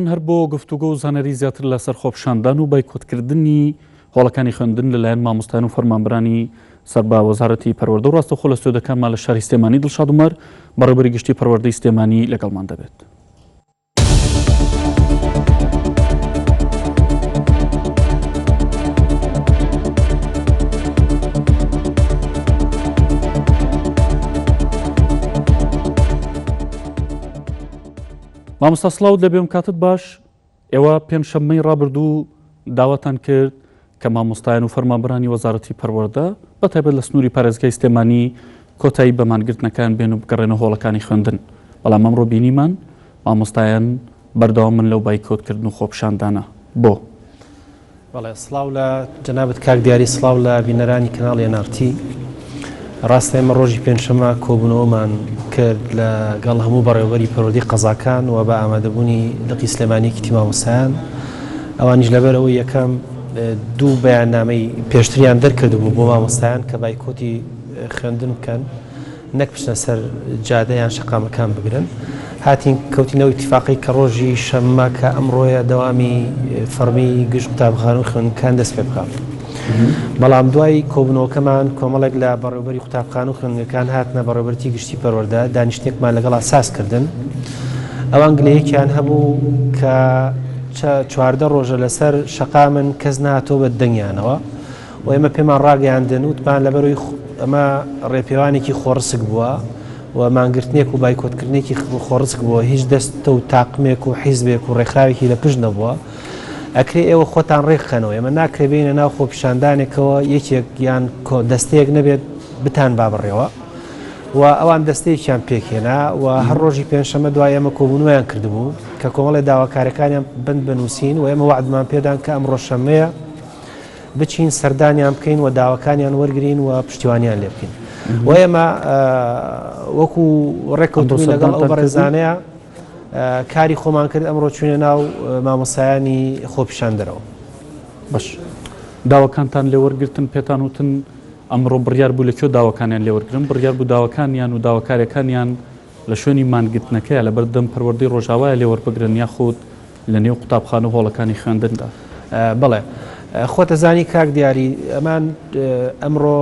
هەر بۆ گفتوگۆ و زانیاری زیاتر لە سەر خۆپیشاندان و بایکۆت کردنی هۆڵەکانی خوێندن لە لایەن مامۆستایان و فەرمانبەرانی سەر بە وەزارەتی پەروەردە و ڕاستەوخۆ لە ستۆدیۆکانمان لە شاری سلێمانی دڵشاد عومەر بەڕێوبەری گشتی پەروەردەی سلێمانی لەگەڵمان دەبێت. مامۆستا سڵاوت لەبێ و کاتت باش، ئێوە پێنجشەممەی ڕابردوو داواتان کرد کە مامۆستایان و فەرمانبەرانی وەزارەتی پەروەردە بە تایبەت لە سنووری پارێزگای سلێمانی کۆتایی بە مانگرتنەکان بێن و بگەڕێنە هۆڵەکانی خوێندن، بەڵام ئەمڕۆ بینیمان مامۆستایان بەردەوامن لەو بایکۆتکردن و خۆپیشاندانە، بۆ؟ بەڵێ سڵاو لە جەنابت کاک دیاری سڵاو لە بینەرانی کەناڵی نارتی ڕاستە ئێمە ڕۆژی پێنجشەمە کۆبوونەوەمان کرد لە گەڵ هەموو بەڕێوبەری پەرۆدی قەزاکان و بە ئامادەبوونی لقی سلێمانیکی تیماوسان ئەوانیش لەبەرەوە یەکەم دوو بەیاننامەی پێشتریان دەرکردبوو بۆ مامۆستایان کە بایکۆتی خوێندن بکەن نەک بچنە سەر جادە یان شەقامەکان بگرن. هاتین کەوتین ئەو ئیتیفاقەی کە ڕۆژی شەممە کە ئەمڕۆیە دەوامی فەڕمی گشت قوتابخانە و خوێندنگەکان دەست پێ بکات. بەڵام دوای کۆبوونەوەکەمان کۆمەڵێک لە بەڕێوبەری قوتابخانە و خوێندنگەکان هاتنە بەڕێوبەرتی گشتی پەروەردە دانیشتنێکمان لەگەڵا ساز کردن. ئەوان گلەیەکیان هەبوو کە چە چواردە ڕۆژە لەسەر شەقامن کەس نەهاتووە بە دەنگیانەوە. و ئێمە پێمان ڕاگەیاندن وتمان لەبەرەوەی ئەمە ڕێپێوانێکی خۆڕسک بووە و مانگرتنێک و بایکۆتکردنێکی خۆڕسک بووە هیچ دەستە و تاقمێک و حیزبێک و ڕێکخراوێکی لە پشت نەبووە ئەکرێ ئێوە خۆتان ڕێکخەنەوە ئێمە ناکرێ بینە ناو خۆپیشاندانێکەوە یەکێک یان دەستەیەک نەبێت بتان با بڕێەوە و ئەوان دەستەیەکیان پێکێنا و هەر ڕۆژی پێنجشەمە دوای ئەمە کۆبوونویان کردبوو کە کۆمەڵی داواکارەکانیان بند بنووسین و ئێمە وعدمان پێدان کە ئەم ڕۆژشەمەیە بچین سەردانیان بکەین و داواکانیان وەرگرین و پشتیوانیان لێ بکەین و ئێمە وەکو ڕێککەوتبووی لەگەڵ ئەو بەڕێزانەیە کاری خۆمان کرد ئەمڕۆ چوینە ناو مامۆسایانی خۆپیشاندەرەوە بەش داواکانتان لێوەرگتن پێتان وتن ئەمڕۆ بڕیار بوو لە کێ داواکانیان لێوەرگرن بڕیار بوو داواکانیان و داواکارەکانیان لە شوێنی مانگرتنەکەیە لەبەر دەم پەروەردەی ڕۆژاوایە لێ وەربگرن یاخود لە نێو قوتابخانە و هۆڵەکانی خوێندندا؟ بەڵێ خۆت ئەزانی کاک دیاری ئەمان ئەمڕۆ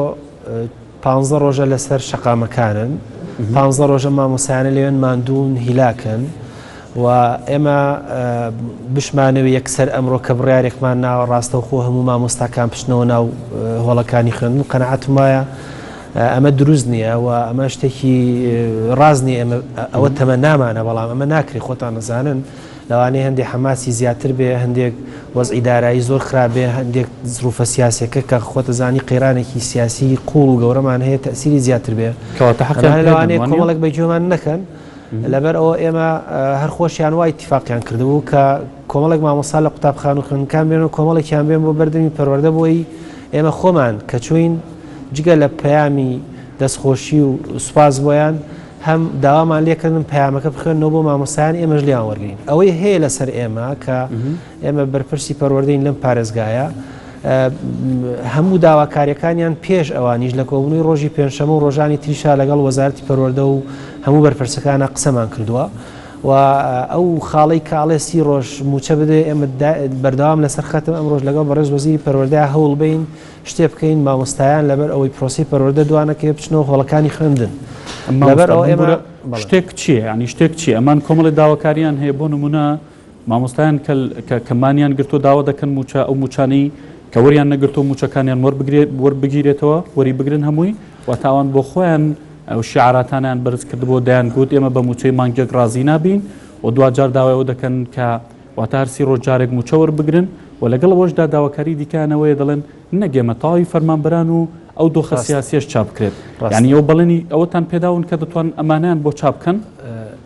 پانزە ڕۆژە لەسەر شەقامەکانن پانزە ڕۆژە مامۆسایانە لەوێن ماندوون هیلاکن و ئێمە بشمانەوێ یەکسەر ئەمڕۆ کە بڕارێکمان ناوە ڕاستەوخۆ هەموو مامۆستاکان پشتنەوە ناو هۆڵەکانی خوێندن قەنەعاتم وایە ئەمە دروست نییە و ئەمە شتێکی ڕاز نیە ئەمە ئەوە تەمە نامانە بەڵام ئەمە ناکری خۆتان نەزانن لەوانەیە هەندێک حەماسی زیاتر بێ هەندێک وەزئی دارایی زۆر خراپێ هەندێک زروفە سیاسەکە کە خۆتە زانی قەیرانێکی سیاسی قوڵ و گەورەمان هەیە تەسیری زیاتر بێ کەواتە حەقیان لەوانەیە کۆمەڵک بە گوێمان نەکەن. لەبەر ئەوە ئێمە هەر خۆشیان وا ئیتیفاقیان کردبوو کە کۆمەڵێک مامۆستا لە قوتابخان و خوێندنگەکان بێن و کۆمەڵێکیان بێن بۆ بەردەمی پەروەردە بۆی ئێمە خۆمان کە چوین جگە لە پەیامی دەستخۆشی و سوپاس بۆیان هەم داوامان لێکردن پەیامەکە بخوێنەوە بۆ مامۆستایان ئێمەش لێیان وەرگین ئەوەی هەیە لەسەر ئێمە کە ئێمە بەرپرسی پەروەردەین لەم پارێزگایە، هەموو داواکارییەکانیان پێش ئەوانیش لە کۆبوونەوەی ڕۆژی پێنجشەممە و ڕۆژانی تریشا لەگەڵ وەزارەتی پەروەردە و هەموو بەرپرسەکانە قسەمان کردووە و ئەو خاڵەی کاڵێ سی ڕۆژ موچە بدوێ ئێمە بەردەوام لەسەر خەتم ئەم ڕۆژ لەگەڵ بەڕێز وەزیری پەروەردە هەوڵ بین شتێ بکەین مامۆستایان لەبەر ئەوەی پرۆسی پەروەردە دوانەکەێ بچنەوە هۆڵەکانی خوێندن لەبەر ئەوە ئێمە شتێک چیە ینی شتێک چی ئەمان کۆمەڵی داواکاریان هەیە بۆ نمونە مامۆستایان کە کەمانیان گرتووە داوا دەکەن مووچە ئەو مووچانەی کە وەریان نەگرتووە مووچەکانیان وەربگیرێتەوە، وەریبگرن هەمووی، واتە ئەوان بۆ خۆیان ئەو شیعاراتانیان بەرز کردبوو دەیان گوت ئێمە بە مووچەی مانگێک ڕازی نابین و دواجار داوای ئەوە دەکەن کە واتە هەر سی ڕۆژ جارێک مووچە وەربگرن و لەگەڵ ئەوەشدا داواکاری دیکەیانەوەیە دەڵێن نەک ئێمە تەواوی فەرمانبەران و ئەو دۆخە سیاسیەش چاپ بکرێت یعنی ئەو بەڵێنی ئەوەتان پێداون کە دەتوان ئەمانەیان بۆ چاپ بکەن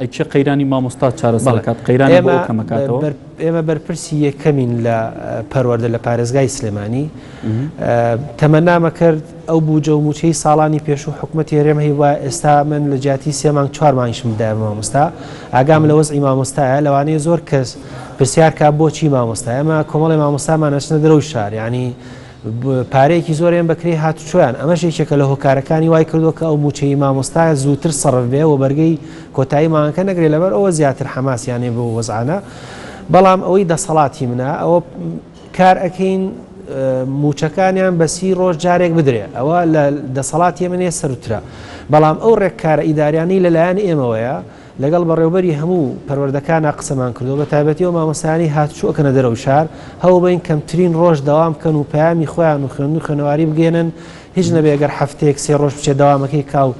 ئەی کێ قەیرانی مامۆستا چارەسەر دەکات؟ قەیرانی بۆ ئەو کەمە کاتەوە؟ ئێمە بەرپرسی یەکەمین لە پەروەردە لە پارێزگای سلێمانی تەمەنامە کرد ئەو بوجە و موچەی ساڵانی پێشوو حکومە تێرێم هەی وە ئێستا من لە جیاتی سێ مانگ چوار مانگشم دا مامۆستا ئاگام لە وەزعی مامۆستایە لەوانەیە زۆر کەس پرسیارکە بۆچی مامۆستا ئەمە کۆمەڵی مامۆستامان ئەچنە درەو شار ینی پارەیەکی زۆریان بە کرێی هاتوچۆیان ئەمەش یەکێکە لە هۆکارەکانی وای کردووە کە ئەو مووچەی مامۆستایە زووتر سەرف بێ و بەرگەی کۆتایی مانگەکە نەگرێت لەبەر ئەوە زیاتر حەماسیانێ بۆ وەزعانە بەڵام ئەوەی دەسەڵاتی منە ئەوە کار ئەەکەین موچەکانیان بەسی ڕۆژ جارێک بدرێ ئەوە لە دەسەڵاتی منێ سەرترە بەڵام ئەو ڕێککارە ئیداریانی لەلایەن ئێمەوەیە لەگەڵ بەڕێوبەری هەموو پەروەردەکانا قسەمان کردوە بەتایبەتی ئەو مامۆستایانەی هاتوچۆ ئەکەنە دەرەوەی شار هەوڵبەین کەمترین ڕۆژ دەوام بکەن و پەیامی خۆیان و خوێندو خوێنەواری بگەێنن هیچ نەبێ گەر هەفتەیەک سێ ڕۆژ بچێت دەوامەکەی کاو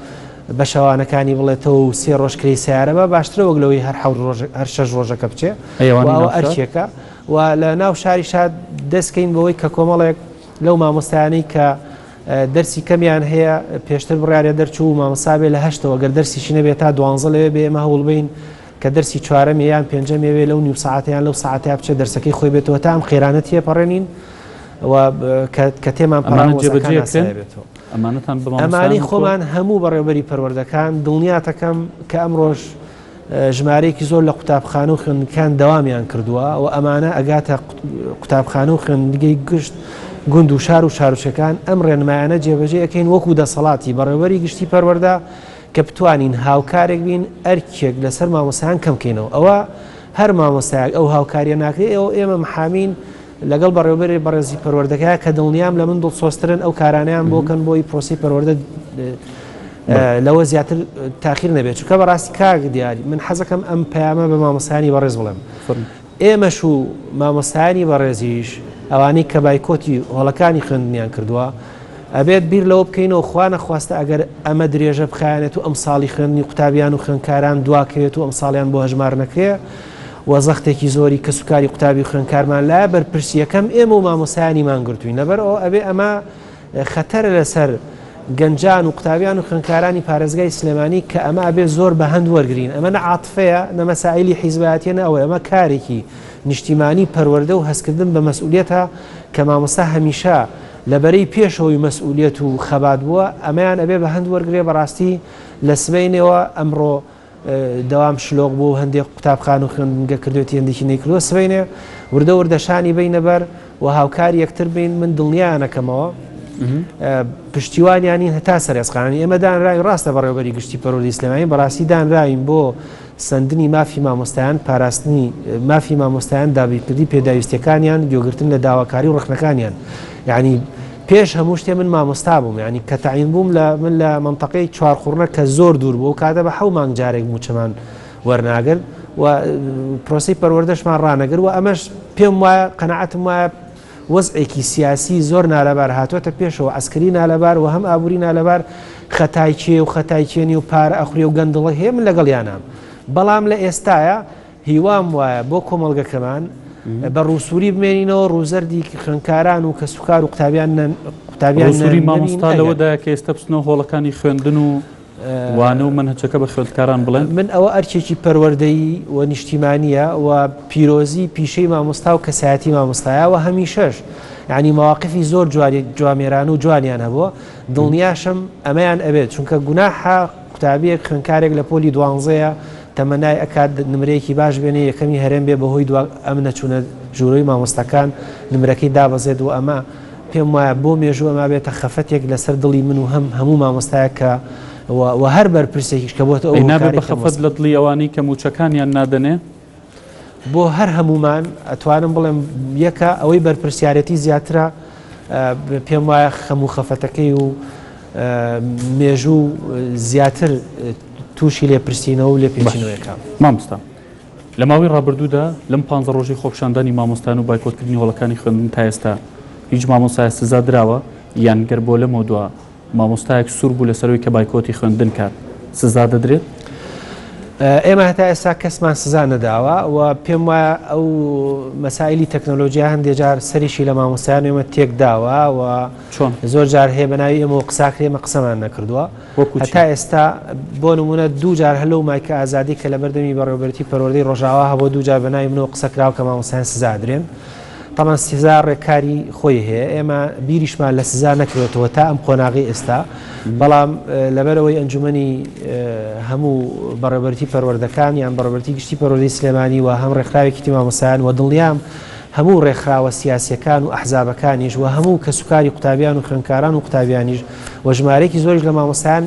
بە شەوانەکانی بڵێتەوە و سێ ڕۆژ کرێی سیارە بە باشترە وەک لەوەی هەر حەوت ڕۆژ هەر شەش ڕۆژەکە بچێ ئەوە ئەرچێکە و لە ناو شاری شاد دەستکەین بەوەی کە کۆمەڵێک لەو مامۆستایانەی کە دەرسی کەمیان هەیە پێشتر بڕیارە دەرچوو مامەسا بێ لە هەشتەوە گەر دەرسیشی نەبێت تا دوانزە لەوێ بێ ئێمە هەوڵبین کە دەرسی چوارەمی یان پێنجەمێوێ لەو نیو ساعتیان لەو ساعتیا بچێت دەرسەکەی خۆی بێتەوە تا ئەم قێرانە تێپەڕێنین کە تێمان پەڕان جێبەجێ بێتەوە ئەمانەتان بەمانەی خۆمان هەموو بەڕێوبەری پەروەردەکان دڵنیاتەکەم کە ئەم ڕۆژ ژمارەیەکی زۆر لە قوتابخانە و خوێندگەکان دەوامیان کردووە و ئەمانە ئەگاتە قوتابخانە و خوێندگەی گشت گوند و شار و شارچەکان ئەم ڕێنمایانە جێبەجێ ئەەکەین وەکو دەسەڵاتی بەڕێوەری گشتی پەروەەردە کە بتوانین هاوکارێک بین ئەرکێک لەسەر مامۆسایان کەمکەینەوە ئەوە هەر مامۆستایەک ئەو هاوکاریە ناکرێت ئەو ئێمە محامین لەگەڵ بەڕێوەبەری بەڕێزی پەروەردەگە کە دڵنیام لە من دڵسۆزترن ئەو کارانەیان بۆ کەن بۆی پرۆسی پەروەردە لەوە زیاتر تاخیر نەبێت چکە بەڕاستی کاک دیاری من حەزەکەم ئەم پەیامە بە مامۆستانی بەڕێز بڵێم ئێمەش و مامۆستانی بەڕێزیش ئەوانەی کە بایکۆتی هۆڵەکانی خوێندنیان کردووە ئەبێت بیر لەوە بکەینەوە خوانە خواستە ئەگەر ئەمە درێژە بخایەنێت و ئەم ساڵی خوێندنی قوتابیان و خوێندکاران دواکەوێت و ئەم ساڵیان بۆ هەژمار نەکرێ و زەختێکی زۆری کەسوکاری قوتابی خوێنکارمان لایە بەرپرسیەکەم ئێمە و مامۆستایانی مانگرتووین لەبەر ئەوە ئەبێ ئەمە خەتەرە لەسەر گەنجان و قوتابیان و خوێنکارانی پارێزگای سلێمانی کە ئەمە ئەبێ زۆر بە هەند وەرگین ئەمە نەعاتفەیە نەمەسائلی حیزباتیە نەوە ئەمە کارێکی نیشتیمانی پەروەەردە و هەستکردن بە مەسئولێتە کە مامۆستا هەمیشە لەبەرەی پێشەوەی مەسئولێت و خەبات بووە ئەمەیان ئەبێ بە هەند وەرگێ بەڕاستی لە سبینەوە ئەمڕۆ دەوام شلۆق بوو هەندێ قوتابخان و خوێندنگە کردوێتی هەندێکی نەیکردووە سبەینێ وردە وردە شانی بینە بەر و هاوکاری یەکتر بین من دڵنیانەکەمەوە پشتیوانیانی هەتا سەرێزقانی ئێمە دانراوی ڕاستە بەڕێوبەری گشتی پەرۆلی ئسلمانی بەڕاستی دانراوین بۆ سندنی مافی مامۆستایان پاراستنی مافی مامۆستایان دابیکردی پێداویستەکانیان گوێگرتن لە داواکاری و ڕخنەکانیان یانی پێش هەموو شتێ من مامۆستا بووم یانی کە تەعین بووم لە من لە منطقەی چوار قوڕنە کە زۆر دوور بوو کاتە بە حەو مانگ جارێک موچەمان وەرناگرن و پرۆسی پەروەردەشمان ڕانەگر و ئەمەش پێم وایە قەنەعەتم وایە وەزعێکی سیاسی زۆر نالەبار هاتوۆتە پێشەوە ئەسکری نالەبار و هەم ئابووری نالەبار خەتایچێ و خەتایچێنی و پارە ئەخورێ و گەندڵە هەیە من لەگەڵ یانام بەڵام لە ئێستاە هیوام وایە بۆ کۆمەڵگەکەمان بە ڕووسووری بمێنینەوە، ڕووزەردی خوێندکاران و کەسوکار و قوتابیان قوتابیان نەبین. ڕووسووری مامۆستا لەوەدایە کە ئێستا بچنەوە هۆڵەکانی خوێندن و وانە و مەنهەجەکە بە خوێندکاران بڵێن. من ئەوە ئەرکێکی پەروەردەیی و نیشتیمانییە و پیرۆزی پیشەی مامۆستا و کەسایەتی مامۆستایە و هەمیشەش یانی مەواقفی زۆر جوانێرانە و جوانیان هەبووە، دڵنیاشم ئەمەیان ئەوێت، چونکە گوناحە قوتابیەک خوێنکارێک لە پۆلی دوانزەیە تەمەنای ئەکات نمرەیەکی باش بێنێ یەکەمی هەرێم بێ بەهۆی دوا ئەم نەچوونە ژوورۆی مامۆستاکان نمرەکەی دابەزێت و ئەمە پێم وایە بۆ مێژوو ئەما بێتە خەفەتێک لەسەر دڵی من و هەم هەموو مامۆستایە کە و هەر بەرپرسێکیش کە بۆتە ئەو نابێت بە خەفەت لە دڵی ئەوانەی کە موچەکانیان نادەنێ. بۆ هەر هەموومان ئەتوانم بڵێم یەکە ئەوەی بەرپرسیارەتی زیاترە پێم وایە خەم و خەفەتەکەی و مێژوو زیاتر تووشی لێپرسینەوە و لێپێچینەوەیەکە مامۆستا لە ماوەی ڕابردوودا لەم پ ڕۆژی خۆپشاندانی مامۆستان و بایکۆتکردنی هۆڵەکانی خوێندن تا ئێستا هیچ مامۆسای سزا دراوە یان گەر بۆ لەمەوە دوا مامۆستایەک سوور بوو لەسەر ئەوی کە بایکۆتی خوێندن کات سزا دەدرێت؟ ئێمە هەتا ئێستا کەسمان سزا نەداوە و پێم وایە ئەو مەسایلی تەکنۆلۆژیا هەندێک جار سەریشی لە مامۆستایان ئێمە تێک داوە و چۆن زۆر جار هەیە بەناوی ئێمە و قساکری ئێمە قسەمان نەکردووە هەتا ئێستا بۆ نمونە دوو جار هەلو مایکە ئازادی کە لە بەردەمی بەڕێوبەرتی پەروەردەی ڕۆژاوا هەبوو دوو جار بەناوی منەوە قسەکراوە کە مامۆستایان سزادرێن تەبعەن سزا ڕێکاری خۆی هەیە ئێمە بیریشمان لە سزا نەکرێتەوە تا ئەم قۆناغی ئێستا بەڵام لەبەرەوەی ئەنجومی هەموو بەڕێبەرتی پەروەردەکان یان بەڕێبەرتی گشتی پەرۆدی سلێمانی و هەم ڕێکخراوێکی تیمامەسایان و دڵنیام هەموو ڕێکخراوە سیاسەکان و ئەحزابەکانیش و هەموو کەسوکاری قوتابیان و خوێنکاران و قوتابیانیش و ژمارێکی زۆریش لە مامەسایان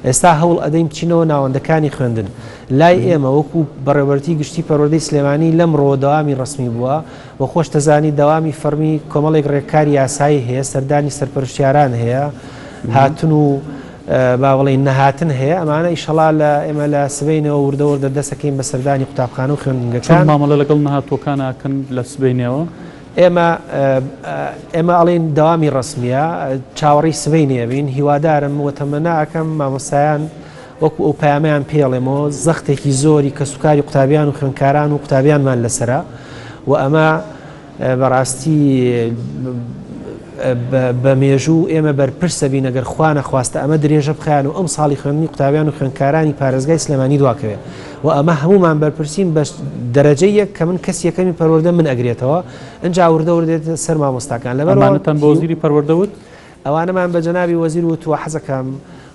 ئێستا هەوڵ ئەدەین بچینەوە ناوەندەکانی خوێندن لای ئێمە وەکو بەڕێوەبەرێتی گشتی پەروەردەی سلێمانی لەم ڕۆوە دەوامی ڕەسمی بووە و خۆش دەزانی دەوامی فەڕمی کۆمەڵێک ڕێککاری یاسایی هەیە سەردانی سەرپەرشتیاران هەیە هاتن و باوەڵی نەهاتن هەیە ئەمانە ئیشەڵا لە ئێمە لە سبینەوە وردەوردە دەسەکەین بە سەردانی قوتابخانە و خوێندنگەکان مامەڵە لەگەڵ نەهاتوەکانکەن لە سبینەوە ئێمە ئێمە ئەڵین داوامی ڕسمیە چاوەڕی سبینێبین هیوادارم وتەمەناکەم مامۆسایان وەکو ئەو پەیامەیان پێ ڵێمەوە زەختێکی زۆری کەسوکاری قوتابیان و خوێندکاران و قوتابیانمان لەسەرە و ئەمە بەڕاستی بە مێژوو ئێمە بەرپرسە بین ئەگەر خوانە خواستە ئەمە درێژە بخیان و ئەم ساڵی خوێندنی قوتابیان و خوێندکارانی پارێزگای سلێمانی دواکەوێت و ئەمە هەمومان بەرپرسین بە دەرەجە یەک کە من کەس یەکەمی پەروەردە من ئەگرێتەوە ئەجا وردەوردێت سەر مامۆستاکان لەبەرتەن بۆزیری پەروەردەوت ئەوانەمان بە جەنابی وەزیر وت و حەزەکەم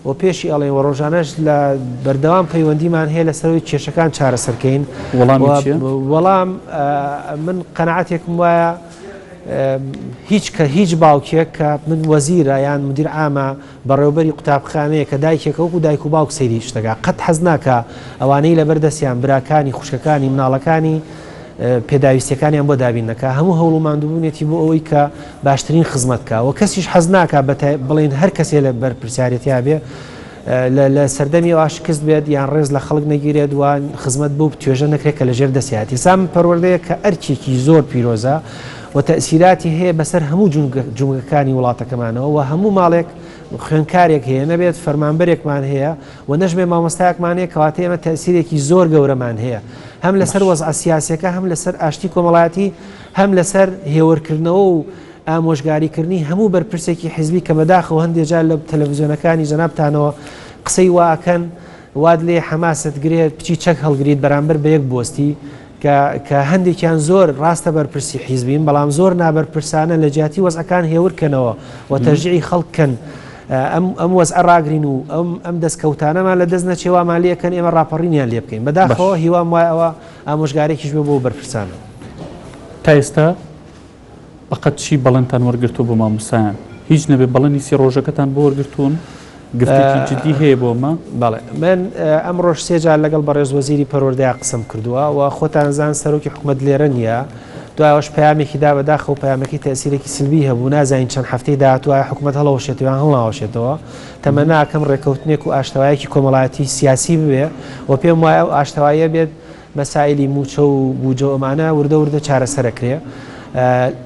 و پێشی ئەڵێین و ڕۆژانەش لە بەردەوام پەیوەندیمان هەیە لەسەر ئەوەی کێشەکان چارەسەر کەین وەڵامی چیە؟ وەڵام، من قەناعەتێکم وایە هیچ کە هیچ باوکێک کە من وەزیرە یان مدیر عامە بەڕێوبەری قوتابخانەیە کە دایکێکە وەکو دایک و باوک سەیری شتەکە قەت حەز ناکا ئەوانەی لەبەر دەستیان براکانی خوشکەکانی مناڵەکانی پێداویستیەکانیان بۆ دابین نەکا هەموو هەوڵ و ماندووبوونێتی بۆ ئەوەی کە باشترین خزمەت کا و کەسیش حەز ناکا بڵین هەر کەسێ لە بەرپرسیارەتیا بێ لە سەردەمی واشکست بێت یان ڕێز لە خەڵک نەگیرێت وان خزمەت بوو توێژە نەکرێت کە لە ژێر دەسیاتی سام پەروەردەیە کە ئەرچێکی زۆر پیرۆزە و تەسیراتی هەیە بەسەر هەموو جومگەکانی وڵاتەکەمانەوە و هەموو ماڵێک خوێنکارێک هەیە نەبێت فەرمانبەرێکمان هەیە وە نەژمێ مامۆستایەکمان هەیە کەواتە ئێمە تەئسیرێکی زۆر گەورەمان هەیە هەم لەسەر باش وەزعە سیاسیەکە هەم لەسەر ئاشتی کۆمەڵایەتی هەم لەسەر هێورکردنەوە و ئامۆژگاریکردنی هەموو بەرپرسێکی حیزبی کە بەداخەوە هەندێ جار لە تەلەڤزیۆنەکانی جەنابتانەوە قسەی وا ئەکەن وات لێ حەماست گرێت بچی چەک هەڵگریت بەرامبەر بە یەک بۆستی کە کە هەندێکیان زۆر ڕاستە بەرپرسی حیزبین بەڵام زۆر نابەرپرسانە لە جیاتی وەزعەکان هێور کەنەوە و تەژیعی خەڵک کەن ئەم وەز ئەڕاگرین و ئەم ئەم دەستکەوتانەمان لە دەست نەچێوامان لەکەن ئێمە ڕاپەڕینیان لێ بکەین بەداخەوە هیوام وایەوە ئامۆژگارێکیش بۆ بەرپرسانە تا ئێستا بەقەد چی بەڵێنتان وەرگرتووە بۆ مامۆستایان؟ هیچ نەبێ بەڵێنی سی ڕۆژەکەتان بۆ وەرگرتوون؟ گفتێکی جدی هەیە بۆ ئەمە؟ بەڵێ من ئەمڕۆش سێ جار لەگەڵ بەڕێز وەزیری پەروەردەیان قسەم کردووە و خۆتان زان سەرۆکی حکومەت لێرە نییە دوایەوەش پامێکی دا بەداخە و پامەکەی تەسیرێکی سلبی هەبوو نازانین چەند هەفتەی داهاتوە حکومەت هەڵەوەشێتیان هەڵاوەشێتەوە تەمە ناکەم ڕێککەوتنێک و ئاشتەوایەکی کۆمەڵایەتی سیاسی بوێ و پێم وایە و ئاشتەوایە بێت مەسایلی مووچە و بووجە و ئەمانە وردە وردە چارەسەر ئەکرێ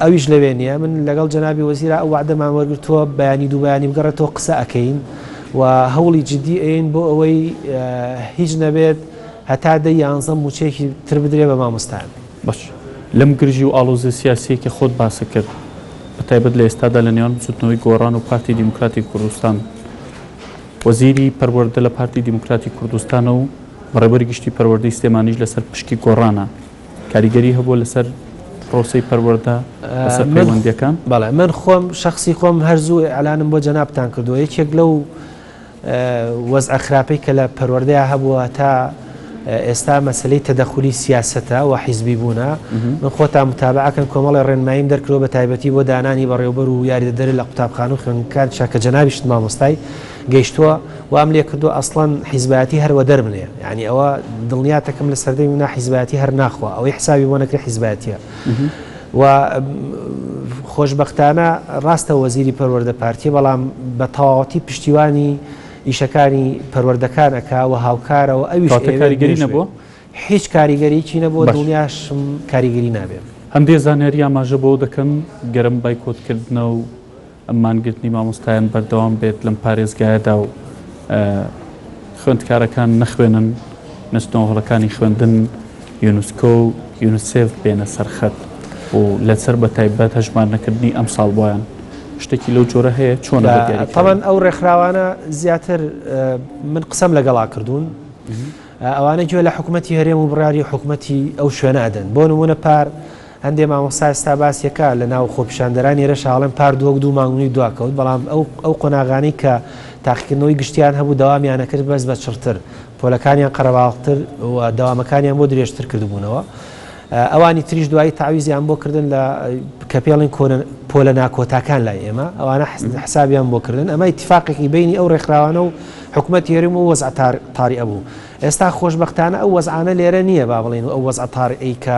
ئەویش لەوێ نییە من لەگەڵ جەنابی وەزیرا ئەو وەعدەمان وەرگرتووە بەیانی دوو بەیانی بگەڕێتەوە قسە ئەکەین و هەوڵی جدی ئەین بۆ ئەوەی هیچ نەبێت هەتا دە یانزە مووچەیەکی تر بدرێ بە مامۆستایان باش لەم گرژی و ئاڵۆزیە سیاسییە کە خۆت باست کرد بە تایبەت لە ئێستادا لە نێوان بزووتنەوەی گۆڕان و پارتی دیموکراتی کوردستان وەزیری پەروەردە لە پارتی دیموکراتی کوردستانە و بەڕێوەبەری گشتی پەروەردەی سلێمانیش لەسەر پشکی گۆڕانە کاریگەری هەبووە لەسەر پرۆسەی پەروەردە لەسەر پەیوەندیەکان؟ بەڵێ من خۆم شخصی خۆم هەر زوو ئەلانم بۆ جەنابتان کردووە یەکێک لەو وەزعە خراپەی کە لە پەروەردەیە هەبووە تا ئێستا مەسەلەی تەدەخولی سیاسەتە و حیزبی بوونە، من خۆتان متابعە کەن کۆمەڵێ ڕێنماییم دەرکردووە بە تایبەتی بۆ دانانی بەڕێوبەر و یاریدەدەرێ لە قوتابخانە و خوێندنگەکانیشا کە جەنابیشت مامۆستای، گەیشتووە، وام لێکردووە ئەسڵەن حیزبایەتی هەر وەدەر بنێ، یانی ئەوە دڵنیاتەکم لە سەردەمی منا حیزبایەتی هەر ناخوا ئەوەی حسابی بۆ نەکرێ حیزبایەتییە و خۆشبەختانە ڕاستە وەزیری پەروەردە پارتییە بەڵام بە تەواوەتی پشتیوانی ئیشەکانی پەروەردەکان ئەکا وە هاوکارە وە ئەویش ئەیەوێت بێژ بێت. کەواتە کاریگەری نەبووە؟ هیچ کاریگەریی نەبووە دڵنیاشم کاریگەری نابێت. هەندێ زانیاری ئاماژە بەوە دەکەن گەر ئەم بایکۆت کردنە و ئەم مانگرتنی مامۆستایان بەردەوام بێت لەم پارێزگایەدا و خوێندکارەکان نەخوێنن نەچنەوە هۆڵەکانی خوێندن، یونسکۆ و یونسێف بێنە سەر خەت و لەسەر بە تایبەت هەژمارنەکردنی ئەمساڵ بۆیان شتێکی لەو جۆرە هەیە چۆن تەوان ئەو ڕێکخراوانە زیاتر من قسەم لەگەڵا کردوون ئەوانە گوێ لە حکوومەتتی هەرێم و بڕاری حکوومەتتی ئەو شوێنە ئەدەن بۆ نمونە پار هەندێ مامۆستا ستا باسیەکە لە ناو خۆپیشاندەران ێرە شاڵم پار دووەک دوو مانگونی دواکەوت بەڵام ئەو ئەو قۆناغانی کە تاقیکردنەوەی گشتیان هەبوو داوامیانەکرد بەس بە چڕتر پۆلەکانیان قەرەباڵغتر و دەوامەکانیان بۆ درێژتر کردبوونەوە. ئەوانی تریش دوایی تەعویزیان بۆ کردن لە کە پێڵێن پۆلە ناکۆتاکان لای ئێمە، ئەوانە حسابیان بۆ کردن. ئەمە ئیتیفاقێکی بینی ئەو ڕێکخراوانە و حکومەتی هەرێم و وەزع تار طارئ بوو. ئێستا خۆشبەختانە ئەو وەزعانە لێرە نییە با بڵێین و ئەو وەزع طارئەی کە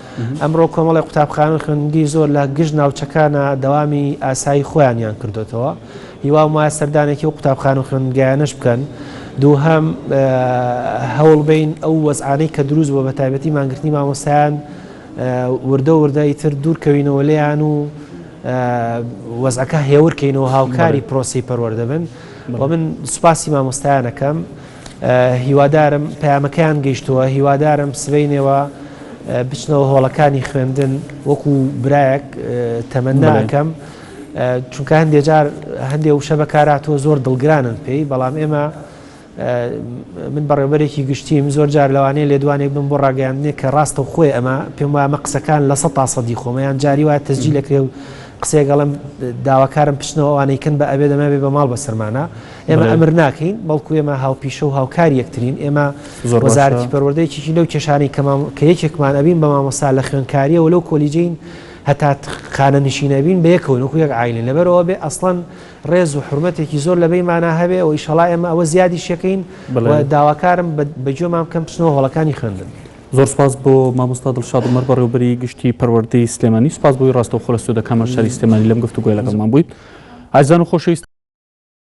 ئەمڕۆ کۆمەڵێک قوتابخانە و خوێندنگەی زۆر لە گشت ناوچەکانا دەوامی ئاسایی خۆیانیان کردۆتەوە هیوام وایە سەردانێکی و قوتابخان و خوێندگایانەش بکەن دووهەم هەوڵ بین ئەو وەزعانەی کە دروست بۆ بە تایبەتی مانگرتنی مامۆستایان وردە وردەی تر دوورکەوینەوە لێیان و وەزعەکە هێورکەینەوە هاوکاری پرۆسی پەروەەردەبن و من سوپاسی مامۆستایانەکەم هیوادارم پەیامەکەیان گەیشتووە هیوادارم سبەینێوە بچنەوە هۆڵەکانی خوێندن وەکو برایەک تەمەناکەم چونکە هەندێک جار هەندێک وشە بەکاراتەوە زۆر دڵگرانن پێی بەڵام ئێمە من بەڕێوبەرێکی گشتیم زۆر جار لەوانەیە لێدوانێک بم بۆ ڕاگەیاندنێک کە ڕاستە و خۆی ئەمە پێم وایە مە قسەکان لە سە تاسەدی خۆمەیان جاری وایە تەجی لەکرێ و قسێگەڵم داواکارم پچنەوە ئەوانەی کەن بە ئەبێ دەمەێ بە ماڵ بەسەرمانە ئێمە ئەمر ناکەین، بەڵکو ئێمە هاوپیشە و هاوکاری یەکترین، ئێمە وەزارەتی پەروەردە یەکێکی لەو کێشانەی کە کە یەکێکمان ئەبین بە مامۆستا لە خوێندکارییەوە لەو کۆلیجەین هەتا خانەنشین ئەبین بە یەکەوەین وەکو یەک عایلەین، لەبەر ئەوە بێ ئەسڵەن ڕێز و حورمەتێکی زۆر لە بەینمانا هەبێ و ئیشەڵا ئێمە ئەوە زیادیش یەکەین و داواکارم بە گوێمان بکەن بچنەوە هۆڵەکانی خوێندن. زۆر سپاس بۆ مامۆستا دڵشاد عومەر بەڕێوەبەری گشتی پەروەردەی سلێمانی سپاس بۆی ڕاستەوخۆ لە سودەکامە شاری سلێمانی لەم گفتوگۆیە لەگەڵمان بوویت ئازیزان و خۆشەویستان.